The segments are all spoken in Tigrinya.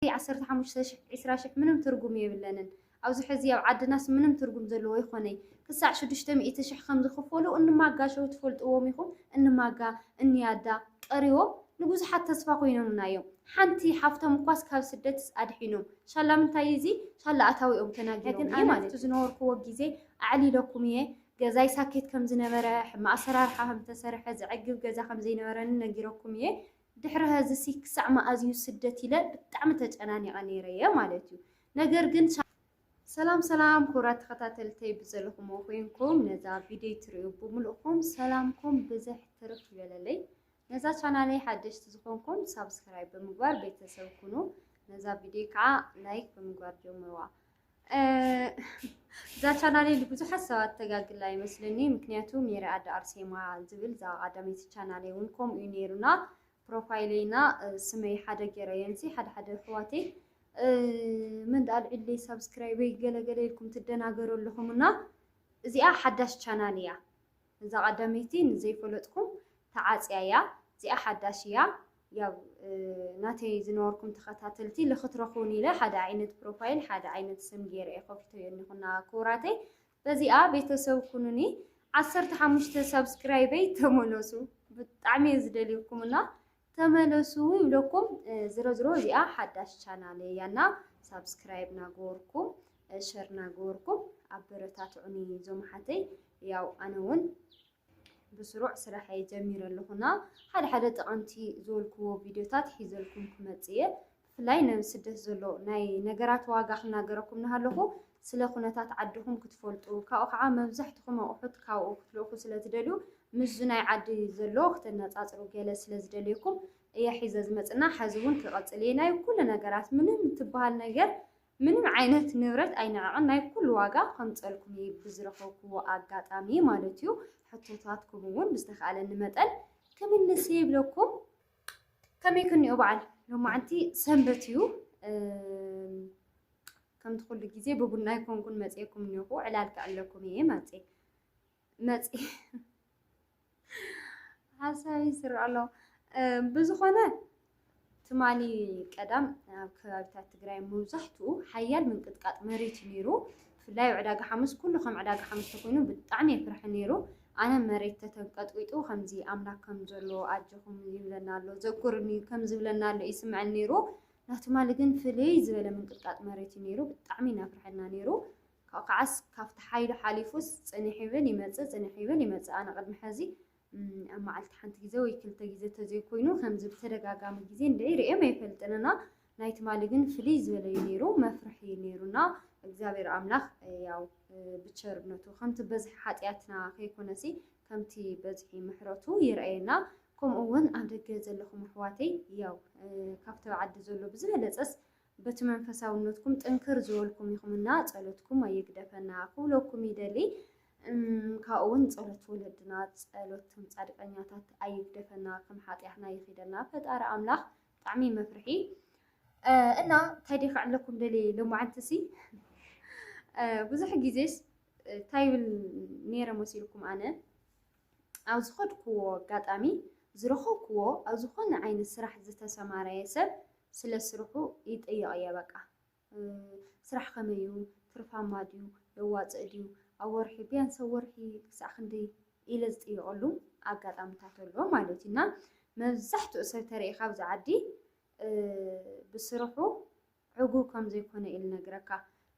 እቲ ዓሰርተ ሓሙሽተ ሽሕ ዕስራ ሽሕ ምንም ትርጉም የብለንን ኣብዚ ሕዚ ኣብ ዓድናስ ምንም ትርጉም ዘለዎ ኣይኮነይ ክሳዕ ሽዱሽተ ሚእቲ ሽሕ ከም ዝኽፈሉ እኒ ማጋ ሸው ትፈልጥዎም ኢኹም እኒ ማጋ እኒ ያዳ ቀሪቦም ንብዙሓት ተስፋ ኮይኖምና እዮም ሓንቲ ሓፍቶም እኳስ ካብ ስደትስ ኣድሒኖም ሻላ ምንታይ እዚ ሻላ ኣታዊኦም ተናጊሮም ግን ኣነ ኣብቲ ዝነበርኩዎ ግዜ ኣዕሊለኩም እየ ገዛይ ሳኬት ከም ዝነበረ ሕማቅ ኣሰራርሓ ከም ዝተሰርሐ ዘዕግብ ገዛ ከም ዘይነበረኒ ነጊረኩም እየ ድሕሪ ሀዚሲ ክሳዕ መኣዝዩ ስደት ኢለ ብጣዕሚ ተጨናኒቀ ነይረ እየ ማለት እዩ ነገር ግን ሰላም ሰላም ክቡራት ተኸታተልተይ ብዘለኹሞ ኮይንኩም ነዛ ቪድዮ ትርእዩ ብምልእኹም ሰላምኩም ብዝሕ ትርፍ ይበለለይ ነዛ ቻናለይ ሓደሽቲ ዝኾንኩም ሳብስክራይብ ብምግባር ቤተሰብ ኩኑ ነዛ ቪድዮ ከዓ ላይክ ብምግባር ጀምርዋ እዛ ቻናል ብዙሓት ሰባት ተጋግላ ይመስለኒ ምክንያቱ ሜሪ ኣደ ኣርሴማ ዝብል እዛ ቀዳመይቲ ቻናል እውን ከምኡ እዩ ነይሩና ፕሮፋይለይና ስመይ ሓደ ገይረየንሲ ሓደ ሓደ ኣሕዋተይ ምን ኣልዒለይ ሳብስክራይበይ ገለገለ ኢልኩም ትደናገሩ ኣለኹም እና እዚኣ ሓዳሽ ቻናል እያ እዛ ቀዳመይቲ ንዘይፈለጥኩም ተዓጽያ እያ እዚኣ ሓዳሽ እያ ያው ናተይ ዝነበርኩም ተኸታተልቲ ልክትረኽቡኒ ኢለ ሓደ ዓይነት ፕሮፋይል ሓደ ዓይነት ስም ገይረ እየ ከፊተዮ እኒኹና ክቡራተይ በዚኣ ቤተሰብ ኩኑኒ ዓሰርተ ሓሙሽተ ሳብስክራይበይ ተመለሱ ብጣዕሚ እየ ዝደልየኩምና ተመለሱ ኢለኩም ዝሮ ዝሮ እዚኣ ሓዳሽ ቻናል እያ እና ሳብስክራይብ ናገበርኩም ሸር ናገበርኩም ኣበረታትዑኒ እዞም ኣሓተይ ያው ኣነ እውን ብስሩዕ ስራሐይ ጀሚረ ኣለኹና ሓደ ሓደ ጠቐምቲ ዝበልክዎ ቪድዮታት ሒዘልኩም ክመፅእ እየ ብፍላይ ነብ ስደት ዘሎ ናይ ነገራት ዋጋ ክናገረኩም ናሃለኹ ስለ ኩነታት ዓድኹም ክትፈልጡ ካብኡ ካዓ መብዛሕትኹም ኣቁሑት ካብኡ ክትልእኩ ስለ ትደልዩ ምስዙ ናይ ዓዲ ዘሎ ክተናፃፅሩ ገለ ስለ ዝደልየኩም እየ ሒዘ ዝመፅና ሐዚ እውን ክቀፅል እየ ናይ ኩሉ ነገራት ምንም እትባሃል ነገር ምንም ዓይነት ንብረት ኣይንዕቅን ናይ ኩሉ ዋጋ ከምፀልኩም እየ ብዝረኸብኩዎ ኣጋጣሚ ማለት እዩ ሕቶታትኩም እውን ብዝተካኣለኒ መጠን ክምልስ እየ ይብለኩም። ከመይ ክንዮ በዓል ሎማዓንቲ ሰንበት እዩ ከምቲ ኩሉ ግዜ ብቡና ኣይኮንኩን መፅኤኩም እኒኹ ዕላል ክዕለኩም እየ መፅ መፅ ሓሳብ ይስር ኣሎ ብዝኾነ ትማሊ ቀዳም ኣብ ከባቢታት ትግራይ መብዛሕትኡ ሓያል ምንቅጥቃጥ መሬት እዩ ነይሩ ብፍላይ ኣብ ዕዳጋ ሓሙስ ኩሉ ከም ዕዳጋ ሓሙስ ተኮይኑ ብጣዕሚ የፍርሕ ኔሩ ኣነ መሬት ተተንቀጥቂጡ ከምዚ ኣምላክ ከም ዘሎ ኣጆኩም ይብለና ኣሎ ዘኩርኒ ከም ዝብለና ኣሎ ይስምዐን ኔሩ ናትማሊ ግን ፍልይ ዝበለ ምንቅጥቃጥ መሬት እዩ ኔሩ ብጣዕሚ ኢና ፍርሐና ኔሩ ካብኡ ከዓስ ካብቲ ሓይሉ ሓሊፉስ ጽኒሕ ይብል ይመጽእ ጽኒሕ ይብል ይመጽእ ኣነ ቅድሚ ሕዚ ኣብ መዓልቲ ሓንቲ ግዜ ወይ ክልተ ግዜ እንተዘይኮይኑ ከምዚ ብተደጋጋሚ ግዜ እንድዒ ርእዮም ኣይፈልጥን እና ናይ ትማሊ ግን ፍልይ ዝበለ እዩ ነይሩ መፍርሒ እዩ ነይሩና እግዚኣብሔር ኣምላኽ ያው ብቸርነቱ ከምቲ በዝሒ ሓጢኣትና ከይኮነሲ ከምቲ በዝሒ ምሕረቱ ይርኣየና ከምኡ እውን ኣብ ደገ ዘለኹም ኣሕዋተይ ያው ካብቲ ዓዲ ዘሎ ብዝበለፀስ በቲ መንፈሳውነትኩም ጥንክር ዝበልኩም ኢኹም እና ጸሎትኩም ኣይግደፈና ክብለኩም ይደሊ። እም ካብኡውን ጸሎት ወለድና ጸሎት እቶም ጻድቀኛታት ኣይግደፈና ከም ሓጢኣትና ይኺደና ፈጣሪ ኣምላኽ ብጣዕሚ መፍርሒ እና ተዲ ክዕለኩም ደሊ ሎማዓንትሲ ብዙሕ ግዜስ እንታይ ይብል ነይረ መሲልኩም ኣነ ኣብ ዝኸድክዎ ኣጋጣሚ ዝረኸብክዎ ኣብ ዝኾነ ዓይነት ስራሕ ዝተሰማረየ ሰብ ስለ ስርሑ ይጠየቕ እየ በቃ። ስራሕ ከመይ እዩ ትርፋማ ድዩ የዋፅእ ድዩ ኣብ ወርሒ ቢያንስ ኣብ ወርሒ ክሳዕ ክንደይ ኢለ ዝጥየቐሉ ኣጋጣምታት ኣሎ ማለት እዩ እና መብዛሕትኡ ሰብ ተርኢ ካብዚ ዓዲ ብስርሑ ዕጉብ ከም ዘይኮነ እዩ ልነግረካ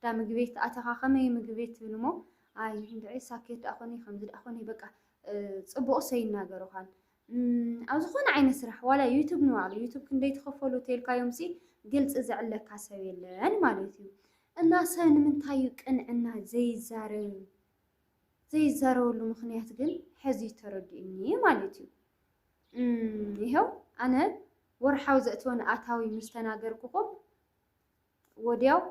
ዳ ምግቢ ቤት ኣተኻ ከመይ ምግቢ ቤት ትብል እሞ ኣይ እንድዒ ሳኬት ደኣ ኮነ ከምዚ ደኣ ኮነ በቃ ፅቡቕሰ ይናገሩኻን ኣብ ዝኾነ ዓይነት ስራሕ ዋላ ዩቱብ ንባዕሉ ዩቱብ ክንደይ ትኸፈሉ ተልካዮምሲ ግልፂ ዘዕለካ ሰብ የለን ማለት እዩ። እና ሰብ ንምንታይ እዩ ቅንዕና ዘይዛረብ ዘይዛረበሉ ምክንያት ግን ሕዚ ተረዲኡኒ ማለት እዩ። ይኸው ኣነ ወርሓዊ ዘእትወን ኣታዊ ምስ ተናገርኩኹም ወድያው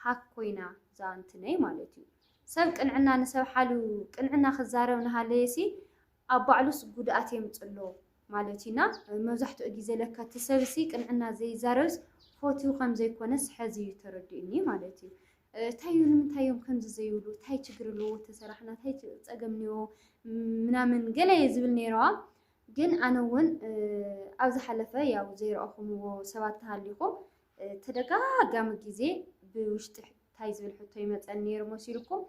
ሃክ ኮይና እዛ እንትነይ ማለት እዩ። ሰብ ቅንዕና ንሰብ ሓልው ቅንዕና ክዛረብ ንሃለየሲ ኣብ ባዕሉስ ጉድኣት የምፅሎ ማለት እዩ እና መብዛሕትኡ ግዜ ለካ እቲ ሰብሲ ቅንዕና ዘይዛረብስ ፎትዩ ከምዘይኮነስ ሐዚ እዩ ተረዲኡኒ ማለት እዩ። እንታይ እዩ ንምንታይ እዮም ከምዚ ዘይብሉ እንታይ ችግር ኣለዎ ተሰራሕና እንታይ ፀገም እኒኦ ምናምን ገለ እየ ዝብል ነይረዋ ግን ኣነ እውን ኣብ ዝሓለፈ ያው ዘይረኣኹምዎ ሰባት ተሃሊኹም ተደጋጋሚ ግዜ ብውሽጢ ታይ ዝብል ሕቶ ይመፀኒ ነይሩ መሲልኩም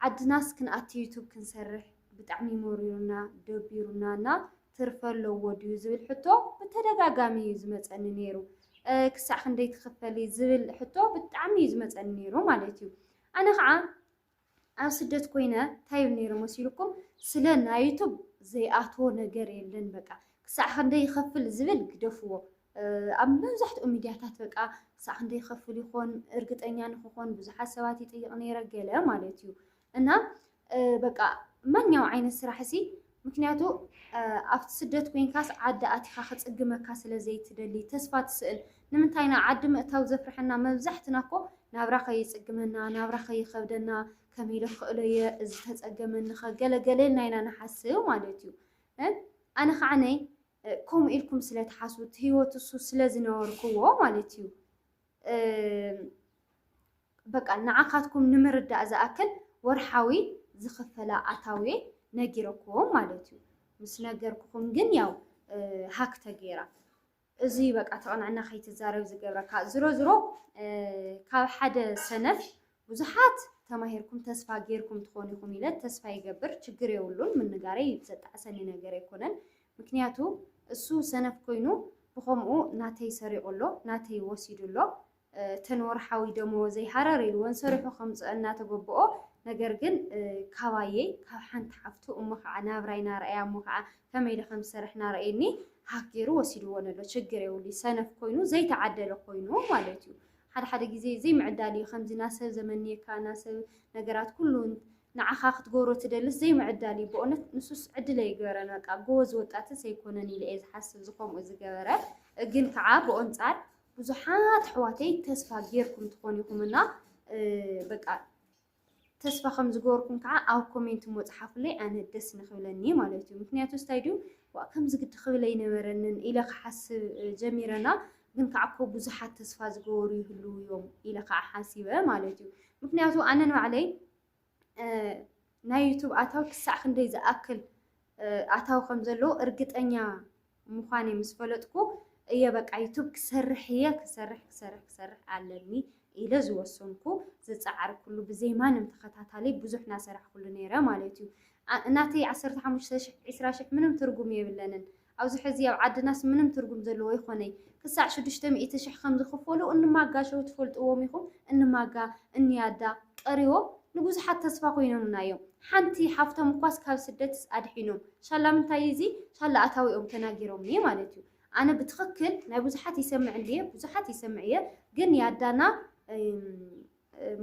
ዓድናስ ክንኣቲ ዩቱብ ክንሰርሕ ብጣዕሚ መሪሩና ደቢሩና እና ትርፊ ኣለዎ ድዩ ዝብል ሕቶ ብተደጋጋሚ እዩ ዝመፀኒ ነይሩ። ክሳዕ ክንደይ ትኽፈሊ ዝብል ሕቶ ብጣዕሚ እዩ ዝመፀኒ ነይሩ ማለት እዩ። ኣነ ከዓ ኣብ ስደት ኮይነ እንታይ እዮም ነይሮም መሲልኩም ስለ ናይ ዩቱብ ዘይኣትዎ ነገር የለን በቃ ክሳዕ ክንደይ ይኸፍል ዝብል ግደፍዎ ኣብ መብዛሕትኡ ሚድያታት በቃ ክሳዕ ክንደይ ይኸፍል ይኾን እርግጠኛ ንክኾን ብዙሓት ሰባት ይጥይቕ ነይረ ገለ ማለት እዩ እና በቃ ማንኛው ዓይነት ስራሕ እሲ ምክንያቱ ኣብቲ ስደት ኮይንካስ ዓዲ ኣቲካ ክጽግመካ ስለ ዘይትደሊ ተስፋ ትስእል ንምንታይ ኢና ዓዲ ምእታው ዘፍርሐና መብዛሕትና እኮ ናብራ ከይጽግመና ናብራ ከይከብደና ከመይ ኢለ ክኽእሎ እየ እዚ ተጸገመኒኸ ገለ ገለ ኢልና ኢና ንሓስብ ማለት እዩ ኣነ ከዓ ነይ ከምኡ ኢልኩም ስለ ትሓስቡ እቲ ህይወት እሱ ስለ ዝነበርክዎ ማለት እዩ በቃ ንዓካትኩም ንምርዳእ ዝኣክል ወርሓዊ ዝኽፈላ ኣታዊ ነጊረክዎም ማለት እዩ። ምስ ነገርኩኹም ግን ያው ሃክ ተገይራ እዚ በቃ ተቕንዕና ከይትዛረብ ዝገብረካ ዝሮ ዝሮ ካብ ሓደ ሰነፍ ብዙሓት ተማሂርኩም ተስፋ ጌርኩም ትኾኑ ኢኹም ኢለ ተስፋ ይገብር ችግር የብሉን ምንጋረይ ዘጣዕሰኒ ነገር ኣይኮነን ምክንያቱ እሱ ሰነፍ ኮይኑ ብኸምኡ ናተይ ሰሪቑ ኣሎ ናተይ ወሲዱ ኣሎ እተን ወርሓዊ ደመወዘይ ሃረር ኢልወን ሰሪሑ ከምፅኦ እናተገብኦ ነገር ግን ካባየይ ካብ ሓንቲ ሓፍቱ እሞ ከዓ ናብራይ ናርኣያ እሞ ከዓ ከመይ ኢለ ከም ዝሰርሕ ናርኣየኒ ሃክ ገይሩ ወሲድዎ ነሎ ችግር የብሉ ሰነፍ ኮይኑ ዘይተዓደለ ኮይኑ ማለት እዩ ሓደ ሓደ ግዜ ዘይምዕዳል እዩ ከምዚ ናሰብ ዘመንየካ ናሰብ ነገራት ኩሉ ንዓኻ ክትገብሮ ትደልስ ዘይምዕዳል እዩ በእውነት ንሱስ ዕድል ኣይግበረን በቃ ጎበዝ ወጣትስ ኣይኮነን ኢለ እየ ዝሓስብ እዚ ከምኡ ዝገበረ ግን ከዓ ብኦንጻር ብዙሓት ኣሕዋተይ ተስፋ ጌርኩም ትኾኑ ኢኹም እና በቃ ተስፋ ከም ዝገበርኩም ከዓ ኣብ ኮሜንት እሞ ፀሓፉለይ ኣነ ደስ ንክብለኒ እዩ ማለት እዩ ምክንያቱ ስታይ ድዩ ዋእ ከምዚ ግዲ ክብል ኣይነበረንን ኢለ ክሓስብ ጀሚረ እና ግን ከዓ እኮ ብዙሓት ተስፋ ዝገበሩ ይህልው እዮም ኢለ ከዓ ሓሲበ ማለት እዩ ምክንያቱ ኣነ ንባዕለይ ናይ ዩቱብ ኣታዊ ክሳዕ ክንደይ ዝኣክል ኣታዊ ከም ዘለዎ እርግጠኛ ምዃነይ ምስ ፈለጥኩ እየ በቃ ዩቱብ ክሰርሕ እየ ክሰርሕ ክሰርሕ ክሰርሕ ኣለኒ ኢለ ዝወሰንኩ ዝጸዓርኩሉ ብዘይ ማንም ተኸታታሊ ብዙሕ ናሰራሕኩሉ ነይረ ማለት እዩ። ናተይ ዓሰርተ ሓሙሽተ ሽሕ ዒስራ ሽሕ ምንም ትርጉም የብለንን ኣብዚ ሕዚ ኣብ ዓድናስ ምንም ትርጉም ዘለዎ ኣይኮነይ ክሳዕ ሽዱሽተ ሚእቲ ሽሕ ከም ዝኽፈሉ እንማጋ ሸው ትፈልጥዎም ኢኹም እንማጋ እንያዳ ቀሪቦም ንብዙሓት ተስፋ ኮይኖምና እዮም ሓንቲ ሓፍቶም እኳስ ካብ ስደትስ ኣድሒኖም ሳላ ምንታይ እዚ ሳላ ኣታዊኦም ተናጊሮምኒ ማለት እዩ ኣነ ብትክክል ናይ ብዙሓት ይሰምዕ እንድየ ብዙሓት ይሰምዕ እየ ግን ያዳና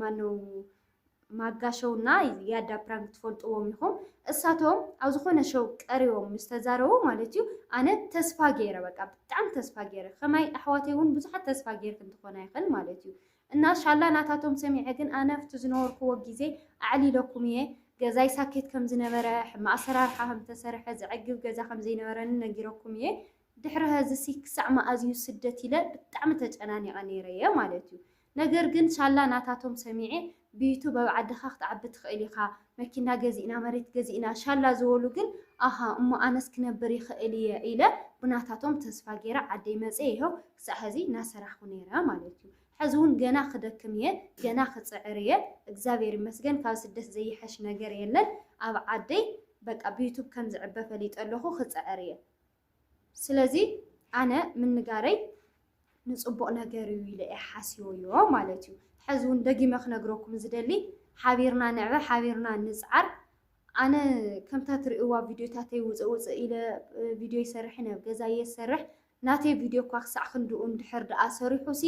ማነው ማጋ ሸው እና ያዳ ፕራንክ ትፈልጥዎም ኢኹም እሳቶም ኣብ ዝኾነ ሸው ቀሪቦም ምስ ተዛረቡ ማለት እዩ ኣነ ተስፋ ገይረ በቃ ብጣዕሚ ተስፋ ገይረ ከማይ ኣሕዋተይ እውን ብዙሓት ተስፋ ገይርክን ትኾና ይኽእል ማለት እዩ እና ሻላ ናታቶም ሰሚዐ ግን ኣነ ኣብቲ ዝነበርኩዎ ግዜ ኣዕሊለኩም እየ ገዛይ ሳኬት ከም ዝነበረ ሕማቅ ኣሰራርሓ ከም ዝተሰርሐ ዘዕግብ ገዛ ከም ዘይነበረኒ ነጊረኩም እየ ድሕሪ ሀዚሲ ክሳዕ መኣዝ እዩ ስደት ኢለ ብጣዕሚ ተጨናኒቀ ነይረ እየ ማለት እዩ ነገር ግን ሻላ ናታቶም ሰሚዐ ብዩቱብ ኣብ ዓድካ ክትዓቢ ትክእል ኢካ መኪና ገዚእና፣ መሬት ገዚእና ሻላ ዝበሉ ግን ኣሃ እሞ ኣነስ ክነብር ይኽእል እየ ኢለ ብናታቶም ተስፋ ገይረ ዓደይ መፅየ ይሀው ክሳዕ ሀዚ ናሰራሕኹ ነይረ ማለት እዩ። ሐዚ እውን ገና ክደክም እየ ገና ክፅዕር እየ እግዚኣብሔር ይመስገን ካብ ስደት ዘይሐሽ ነገር የለን ኣብ ዓደይ በቃ ብዩቱብ ከምዝዕበ ፈሊጠ ኣለኹ ክፅዕር እየ። ስለዚ ኣነ ምንጋረይ ንጽቡቕ ነገር እዩ ኢለ እየ ሓሲበዮ ማለት እዩ። ሕዚ እውን ደጊመ ክነግረኩም ዝደሊ ሓቢርና ንዕበ ሓቢርና ንጽዓር ኣነ ከምታ ትርእይዋ ቪድዮታተይ ውፅእ ውፅእ ኢለ ቪድዮ ይሰርሕ ናብ ገዛ እየ ዝሰርሕ ናተይ ቪድዮ እኳ ክሳዕ ክንድኡ እንድሕር ደኣ ሰሪሑሲ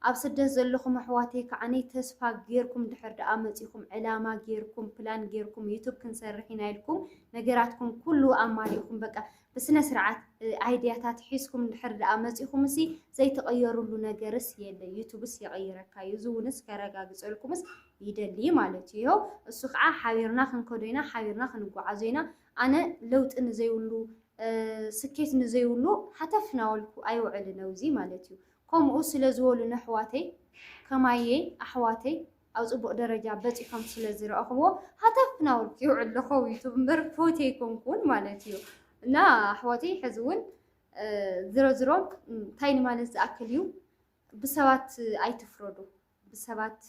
ኣብ ስደት ዘለኹም ኣሕዋተይ ከዓነይ ተስፋ ጌርኩም ድሕር ደኣ መፂኹም ዕላማ ጌርኩም ፕላን ጌርኩም ዩቱብ ክንሰርሕ ኢና ኢልኩም ነገራትኩም ኩሉ ኣማሊእኹም በቃ ብስነ ስርዓት ኣይድያታት ሒዝኩም እንድሕር ደኣ መጺኹምሲ ዘይተቐየሩሉ ነገርስ የለ፣ ዩቱብስ የቐይረካ እዩ፣ እዚ እውንስ ከረጋግጸልኩምስ ይደሊ ማለት እዩ። ይሀው እሱ ከዓ ሓቢርና ክንከዶ ኢና፣ ሓቢርና ክንጓዓዞ ኢና፣ ኣነ ለውጢ ንዘይብሉ ስኬት ንዘይብሉ ሃተፍ ናበልኩ ኣይውዕልን፣ ኣብዚ ማለት እዩ። ከምኡ ስለ ዝበሉኒ ኣሕዋተይ፣ ከማየይ ኣሕዋተይ፣ ኣብ ጽቡቅ ደረጃ በጺሖም ስለ ዝረኣኹዎ ሃተፍ ናበልኩ እየ ውዕል ለኸው ዩቱብ እምበር ፎቲ ኣይኮንኩን ማለት እዩ እና ኣሕዋተይ ሕዚ እውን ዝሮ ዝሮ እንታይ ንማለት ዝኣክል እዩ ብሰባት ኣይትፍረዱ ብሰባት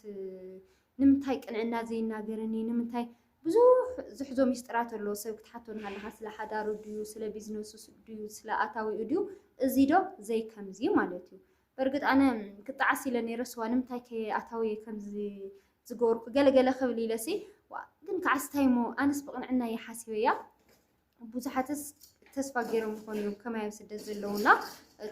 ንምንታይ ቅንዕና ዘይናገርኒ ንምንታይ ብዙሕ ዝሕዞ ሚስጥራት ኣሎ ሰብ ክትሓቶ እናሃለኻ ስለ ሓዳሩ ድዩ ስለ ቢዝነሱ ድዩ ስለ ኣታዊኡ ድዩ እዚ ዶ ዘይከምዚ ማለት እዩ በርግጥ ኣነ ክጣዓስ ኢለ ነይረ ስዋ ንምንታይ ከ ኣታውየ ከምዚ ዝገበርኩ ገለ ገለ ክብል ኢለሲ ዋእ ግን ክዓስ እንታይ እሞ ኣነስ ብቕንዕና እየ ሓሲበያ ብዙሓትስ ተስፋ ገይሮም ይኾኑ እዮም ከማይ ኣብ ስደት ዘለውና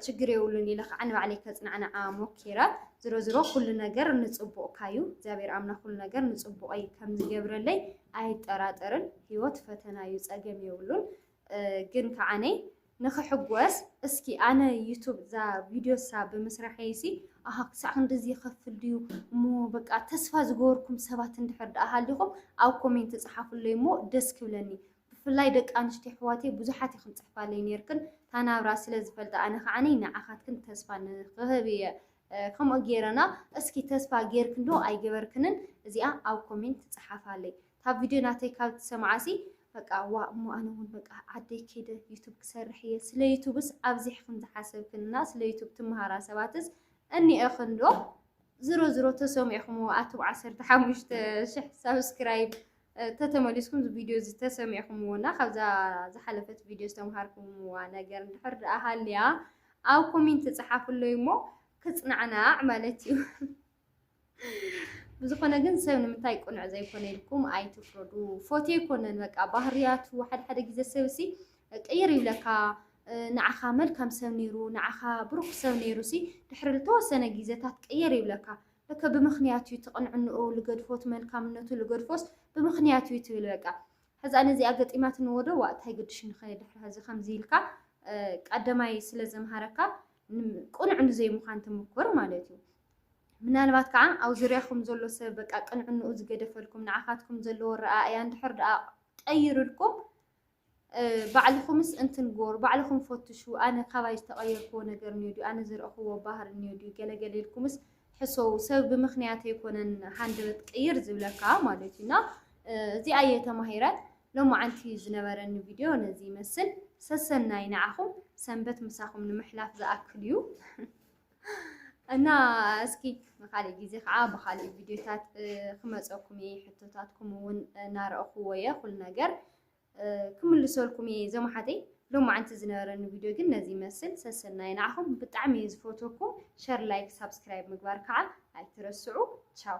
ችግር የብሉን ኢለ ከዓ ንባዕለይ ከፅናዕናዓ ሞኪረ ዝሮ ዝሮ ኩሉ ነገር ንፅቡቕካ እዩ እግዚኣብሔር ኣምላኽ ኩሉ ነገር ንፅቡቐይ ከም ዝገብረለይ ኣይጠራጠርን ህይወት ፈተና እዩ ፀገም የብሉን ግን ከዓነ ንኽሕጎስ እስኪ ኣነ ዩቱብ እዛ ቪድዮ እሳ ብምስራሐይ ሲ ኣሃ ክሳዕ ክንድዚ ይኸፍል ድዩ እሞ በቃ ተስፋ ዝገበርኩም ሰባት እንድሕር ደኣ ሃሊኹም ኣብ ኮሜንት ጸሓፉለይ እሞ ደስ ክብለኒ ብፍላይ ደቂ ኣንስትዮ ኣሕዋተይ ብዙሓት ኢኽን ጽሕፋለይ ነርክን ታናብራ ስለ ዝፈልጣ ኣነ ከዓኒ ንዓኻትክን ተስፋ ንኽህብ እየ ከምኡ ገይረና እስኪ ተስፋ ገይርክን ዶ ኣይገበርክንን እዚኣ ኣብ ኮሜንት ጸሓፋለይ እታ ቪድዮ ናተይ ካብ ትሰምዓሲ በቃ ዋእ እሞ ኣነ እውን በቃ ዓደይ ከይደ ዩቱብ ክሰርሕ እየ ስለ ዩቱብስ ኣብዚሕክን ዝሓሰብክን እና ስለ ዩቱብ ትመሃራ ሰባትስ እኒኤኽን ዶ ዝሮ ዝሮ ተሰሚዕኹምዎ ኣቱም ዓሰርተ ሓሙሽተ ሽሕ ሳብስክራይብ ተተመሊስኩም እዚ ቪድዮ እዚ ተሰሚዕኹምዎ እና ካብዛ ዝሓለፈት ቪድዮ ዝተምሃርኩምዋ ነገር እንድሕር ደኣ ሃልያ ኣብ ኮሜንት ፀሓፍለይ እሞ ክፅናዕናዕ ማለት እዩ። ብዝኾነ ግን ሰብ ንምንታይ ቅኑዕ ዘይኮነ ኢልኩም ኣይትፍረዱ። ፎቴ ኣይኮነን በቃ ባህርያቱ ሓደ ሓደ ግዜ ሰብሲ ቅይር ይብለካ ንዓኻ መልካም ሰብ ነይሩ ንዓኻ ብሩኽ ሰብ ነይሩሲ ድሕሪ ዝተወሰነ ግዜታት ቅይር ይብለካ ለከ ብምኽንያት እዩ ትቕንዕንኡ ልገድፎት መልካምነቱ ልገድፎስ ብምኽንያት እዩ ትብል በቃ ሕዛ ነዚኣ ገጢማት ንወዶ ዋእ እንታይ ግድሽ ንኸየ ድሕሪ ሕዚ ከምዚ ኢልካ ቀደማይ ስለ ዘምሃረካ ቅኑዕ ንዘይምዃን ትምኩር ማለት እዩ ምናልባት ከኣ ኣብ ዙርያኹም ዘሎ ሰብ በቃ ቅንዕንኡ ዝገደፈልኩም፣ ንዓኻትኩም ዘለዎ ኣረኣእያ እንድሕር ደኣ ቀይርልኩም፣ ባዕልኹምስ እንትንጎር ባዕልኹም ፈትሹ፣ ኣነ ካባይ ዝተቐየርክዎ ነገር እንዮ ድዩ፣ ኣነ ዝረእኽዎ ባህሪ እንዮ ድዩ፣ ገለ ገለ ኢልኩምስ ሕሰዉ፣ ሰብ ብምኽንያት ኣይኮነን ሃንደበት ቅይር ዝብለካ ማለት እዩ እና እዚኣ እየ ተማሂረ። ሎማዓንቲ ዝነበረኒ ቪድዮ ነዚ ይመስል። ሰሰናይ ንዓኹም፣ ሰንበት ምሳኹም ንምሕላፍ ዝኣክል እዩ። እና እስኪ ንካሊእ ግዜ ከዓ ብካሊእ ቪድዮታት ክመፀኩም እየ ሕቶታትኩም እውን እናረእኩዎ እየ ኩሉ ነገር ክምልሰልኩም እየ እዞም ሓተይ ሎም መዓንቲ ዝነበረኒ ቪድዮ ግን ነዚ ይመስል ሰሰናይ ንዓኹም ብጣዕሚ እየ ዝፈትወኩም ሸር ላይክ ሳብስክራይብ ምግባር ከዓ ኣይትረስዑ ቻው